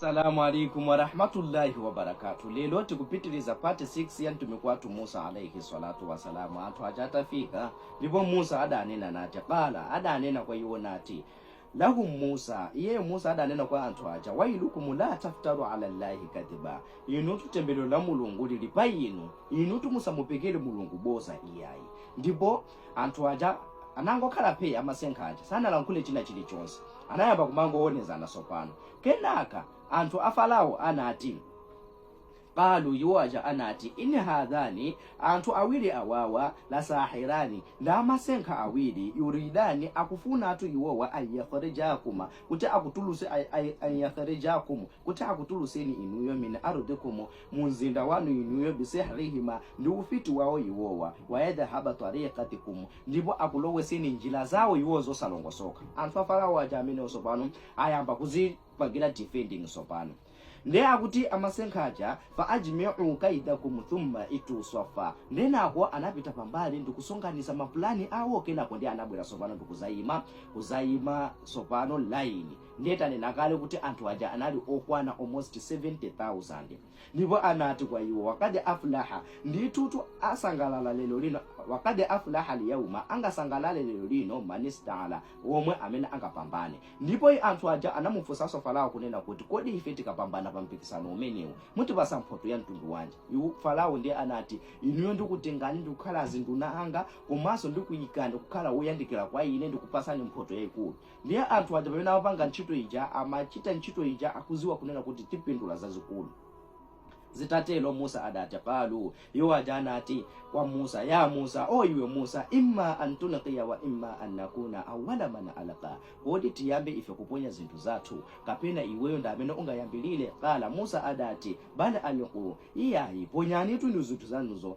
Asalamu alaikum warahmatullahi wabarakatu. Lelo tikupitiliza pati 6 ya mtumiki wathu Musa alaihi salatu wasalamu. Anthu aja atafika ndipo Musa adanena nati qala, adanena kwa iwo nati lahum Musa, iyeyo Musa adanena kwa anthu aja wailukum la taftaru ala llahi kadhiba, inutu tembelero la Mulungu lili pa inu, inutu musamupekere Mulungu boza iyayi. Ndipo Anthu aja anangokhala phee amasenga aja sanalankhule china chilichonse anayamba kumangowonezana sopano kenaka anthu a Farawo anati qalu iwo aja anati in hadhani anthu awiri awawa la sahirani ndamasenga awiri yuridani akufunatu iwowa ayakhrijakum kuti akutuluse ayakhrijakum kuti akutuluseni inuyo min ardikum mu mzinda wanu inuyo, bisihrihima, ndi ufiti wawo iwowa, wayadhhaba tariqatikum, ndipo akulowetseni njira zawo iwowo zosalongosoka. Anthu a Farawo aja amenewo tsopano ayamba kuzipangira defending tsopano. Ndiye akuti amasenga aja, fa ajmi'u kaidakum thumma itu swaffa, ndenako anapita pambali ndikusonkhanitsa mapulani awo kenako ndiye anabwera tsopano ndikuzaima, kuzaima tsopano line. Ndiye tanena kale kuti anthu aja anali okwana almost 70,000. Ndipo anati kwa iwo, Wakad aflaha, ndithutu asangalala lero lino, wakad aflaha al-yawma, angasangalale lero lino, man ista'la, womwe amene angapambane. Ndipo anthu aja anamufunsanso Farawo kunena kuti, Kodi ife tikapambana pa mpikisano umenewu, mutipatsa mphotho ya mtundu wanji? Iwo, Farawo, ndiye anati, Inuyo ndikutengani ndi kukhala azinduna anga komanso ndikuikani kukhala woyandikira kwa ine ndikupatsani mphotho yaikulu. Ndiye anthu aja pamene amapanga ntchito ija amachita ntchito ija akuziwa kunena kuti tipindula zazikulu. Zitatero Musa adati, Qaaluu, iwo aja anati, kwa Musa, Yaa Musa, oh iwe Musa, immaa an tulqiya wa immaa an nakuuna awwala man alqaa, kodi tiyambe ife kuponya zinthu zathu kapena iweyo ndamene ungayambilire? Qaala, Musa adati, Bal alquu, iyayi ponyanitu inu zinthu zanuzo.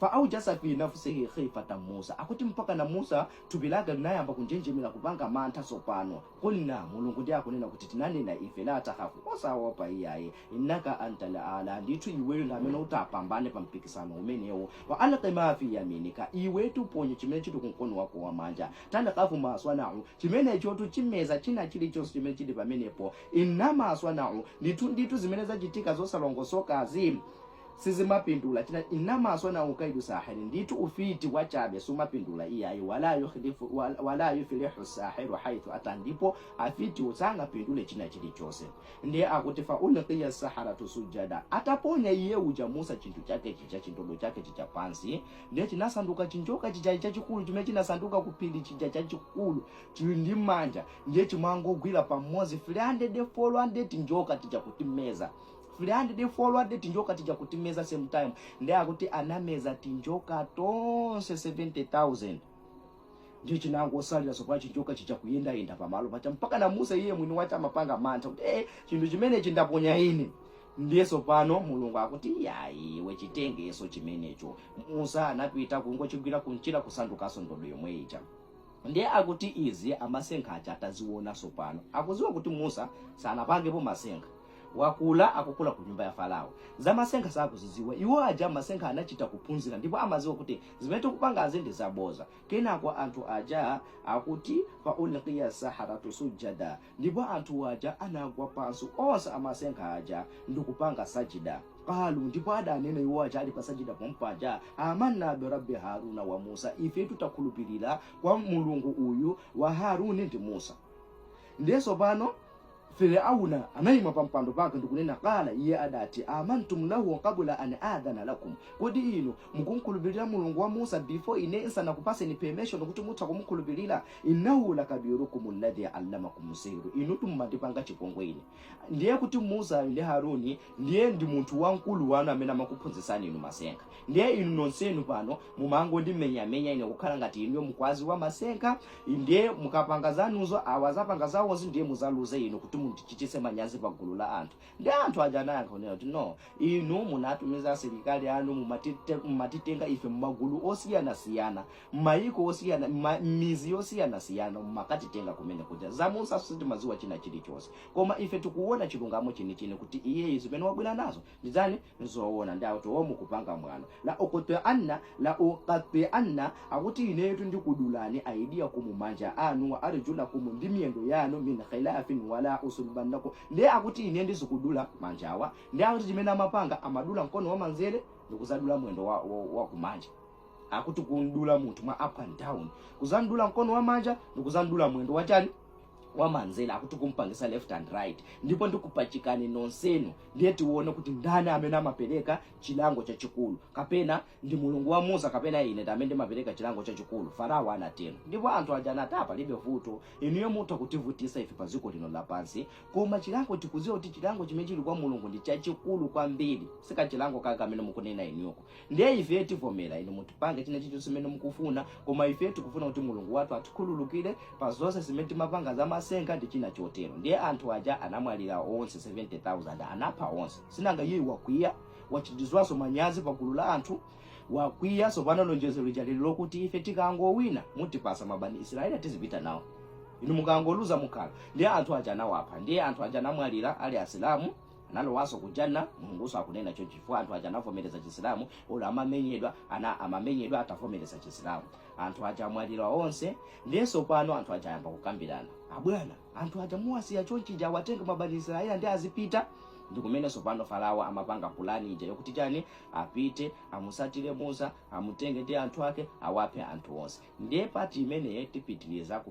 Fa'awjasa fi nafsihi khifatan Musa. Akuti mpakana Musa thupi lake linayamba kunjenjemera kupanga mantha tsopano. Qulna, Mulungu ndiye akunena kuti tinanena ife, la takhafu, osaopa iyayi, innaka antal a'la, ndithu iweyo ndi amene utapambane pa mpikisano umenewu. Wa alqi ma fi yaminika, iwetu ponye chimene chili ku mkono wako wamanja. Talqafu ma swana'u, chimenechotu chimeza china chilichonse chimene chili pamenepo. Innama swana'u, ndithu ndithu zimene zachitika zosalongosokazi, sizimapindula china innama swana'u kaidu sahiri ndithu ufiti wachabe sumapindula iyayi wala yukhlifu wala- wala yuflihu sahiru haithu ata ndipo afitiwo sangapindule china chilichonse ndiye akuti fa ulqiya saharatu sujada ataponya iye uja musa chinthu chake chija chindodo chake chija pansi ndiye chinasanduka chinjoka chija chachikulu chimene chinasanduka kuphiri chija chachikulu chili ndi manja ndiye chimangogwira pamodzi 300 400 tinjoka tija kutimeza 300 400 tinjoka tija kutimeza same time nde akuti anameza tinjoka tonse 70000 nde chinangosalira sopa chinjoka chija kuyendayenda pamalo paja mpaka na musa iye mwini wake amapanga mantha kuti eh chinthu chimenechi ndaponya ine ndiye sopano mulungu akuti yayi iwe chitengeso chimenecho musa anapita kungochigwira kunchira kusandukaso ndodo yomwe ija ndiye akuti izi amasenkha aja ataziona sopano akuziwa kuti musa sanapangepo masenkha Wakula akukula ku nyumba ya Farao. Za masenkha sakuzidziwa. Iwo aja masenkha anachita kuphunzira ndipo amadziwa kuti zimene tikupangazi ndi zaboza. Kenako anthu aja akuti, Fa ulqiya saharatu sujjada, ndipo anthuwo aja anagwa pansi onse amasenkha aja ndikupanga sajida. Qaalu, ndipo adanena iwo aja ali pa sajida pompaja, Amanna bi Rabbi Haaruna wa Muusa, ifetu takhulupirira kwa Mulungu uyu wa Haaruni ndi Muusa. Ndiye tsopano. Firauna anayima pa mpando pake ndikunena qala, iye adati, amantum lahu qabula an adhana lakum, kodi inu mukumkhulupirira Mulungu wa Musa before ine nsanakupaseni permission kuti mutha kumukhulupirira? Innahu lakabirukum alladhi allamakum sihru, inutu mumandipanga chipongwe ine. Ndiye kuti Musayo ndi Haruni Ndiye ndi munthu wamkulu wanu amene amakuphunzitsani inu masenkha. Ndiye inu nonsenu pano mumangondimenyamenya ine kukhala ngati inuyo mukuwaziwa masenkha, ndiye mukapanga zanuzo awa azapanga zawozo ndiye muzaluze inu kuti mundichititse manyazi pa gulu la anthu. Ndiye anthu aja anayankha kunena kuti, No, inu munatumiza asilikali anu mumatite- mumatitenga ife m'magulu osiyanasiyana, m'mayiko osiyana, m'ma- m'mizi yosiyanasiyana mumakatitenga kumene kuja. Za Musa sitimadziwa china chilichonse. Koma ife tikuwona chilungamo chenicheni kuti iyeyu zimene wabwera nazo ndi chani? Nzoona ndiye akuti oh mukupanga mwano. La uqti'anna, la uqatti'anna akuti ineyotu ndikudulani aydiyakumu manja anu wa arjulakum ndi miyendo yanu min khilaafin wa la usullibannakum ndiye akuti ine ndizikudula manjawa ndiye akuti chimene amapanga amadula mkono wamanzere ndikuzadula mwendo wa, wa, wa kumanja. Akuti kumdula munthu mwa up and down, kuzamdula mkono wamanja ndikuzamdula mwendo wachani? wamanzere akuti kumpangisa left and right ndipo ndikupachikani nonsenu ndiye tione kuti ndani amene amapereka chilango chachikulu kapena ndi mulungu wa musa kapena ine ndamene ndimapereka chilango chachikulu farao anatero ndipo anthu aja anati palibe vuto inuyo mutha kutivutisa ife pa dziko lino lapansi koma chilango tikuziwa kuti chilango chimene chili kwa mulungu ndi chachikulu kwambiri sikachilango kake amene mukunena inuyoko ndiye ife tivomera inu mutipange china chilichonse chimene mukufuna koma ife tikufuna kuti mulungu wathu atikhululukire pa zonse zimene timapanga za masenga ndi china chotero ndiye anthu aja anamwalira onse 70000 anapha onse sinanga iye wakwiya wachitidwanso manyazi pa gulu la anthu wakwiya tsopano lonjezo lija linali lokuti ife tikangowina mutipasa mabani israeli tizipita nawo inu mukangoluza mukhala ndiye anthu aja anawapha ndiye anthu aja anamwalira ali asilamu analowanso ku janna mulungunso akunena choncho chifukwa anthu aja anavomereza chisilamu olo amamenyedwa ana amamenyedwa atavomereza chisilamu anthu aja amwalira onse ndiye tsopano anthu aja ayamba kukambirana abwana anthu aja muwasiya chonchija awatenga mabani israeli ndi azipita ndi kumene tsopano farao amapanga pulani ija yokuti chani apite amusatire musa amutenge ndi anthu ake awaphe anthu onse ndiye pati imeneyi tipitiriza ku